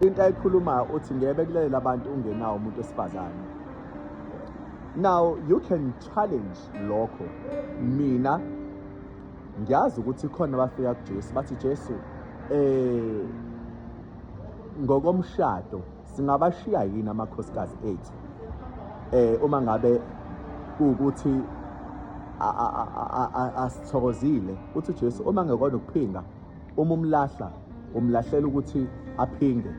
into ayikhulumayo uthi ngeke bekulelela abantu ungenawo umuntu wesifazane now you can challenge lokho mina ngiyazi ukuthi khona abafika kuJesu bathi Jesu eh ngokomshado singabashiya yini amakhosikazi ethu eh uma ngabe ukuthi asithokozile uthi uJesu uma ngekona ukuphinga Uma umlahla umlahlela ukuthi aphinge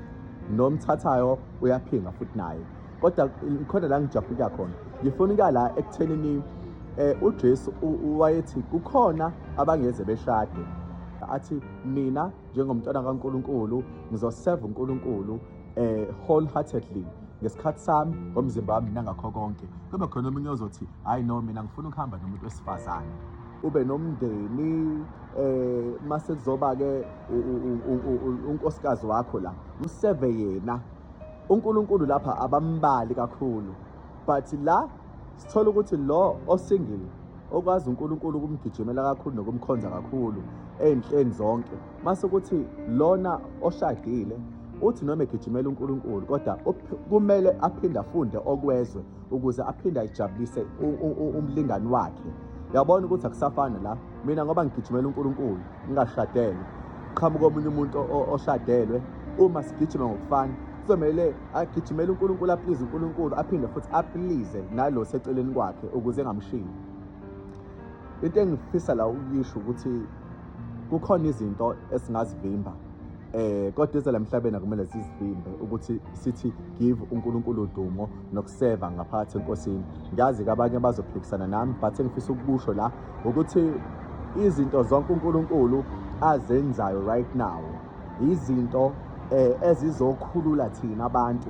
nomthathayo uyaphinga futhi naye kodwa khona la ngijabulika khona ngifuna ukuya la ekuthenini eh uJesu wayethi kukhona abangeze beshade athi mina njengomntwana kaNkuluNkulu ngizoseva uNkuluNkulu eh wholeheartedly ngesikhathi sami ngomzimba wami nangakho konke kube khona omunye ozothi hayi no mina ngifuna ukuhamba nomuntu wesifazane ube nomndeni eh mase kuzoba ke unkosikazi wakho la mseve yena uNkulunkulu lapha abambali kakhulu but la sithola ukuthi lo osingile okwazi uNkulunkulu ukumgijimela kakhulu nokumkhonza kakhulu ezinhleni zonke mase ukuthi lona oshadile uthi noma egijimela uNkulunkulu kodwa kumele aphinde afunde okwezwe ukuze aphinde ajabulise umlingani wakhe yabona ukuthi akusafani la mina ngoba ngigijimela uNkulunkulu ngingashadele qhamuka omunye umuntu oshadelwe uma sigijima ngokufana kuzomele agijimele uNkulunkulu aplize uNkulunkulu aphinde futhi aplize nalo seceleni kwakhe ukuze engamshiyi into engifisa la ukuyisho ukuthi kukhona izinto esingazivimba eh kodwa ezela emhlabeni akumele sizivimbe ukuthi sithi give uNkulunkulu udumo nokuseva ngaphakathi enkosini ngiyazi kabanye bazophikisana nami but engifisa ukusho la ukuthi izinto zonke uNkulunkulu azenzayo right now izinto eh, ezizokhulula thina abantu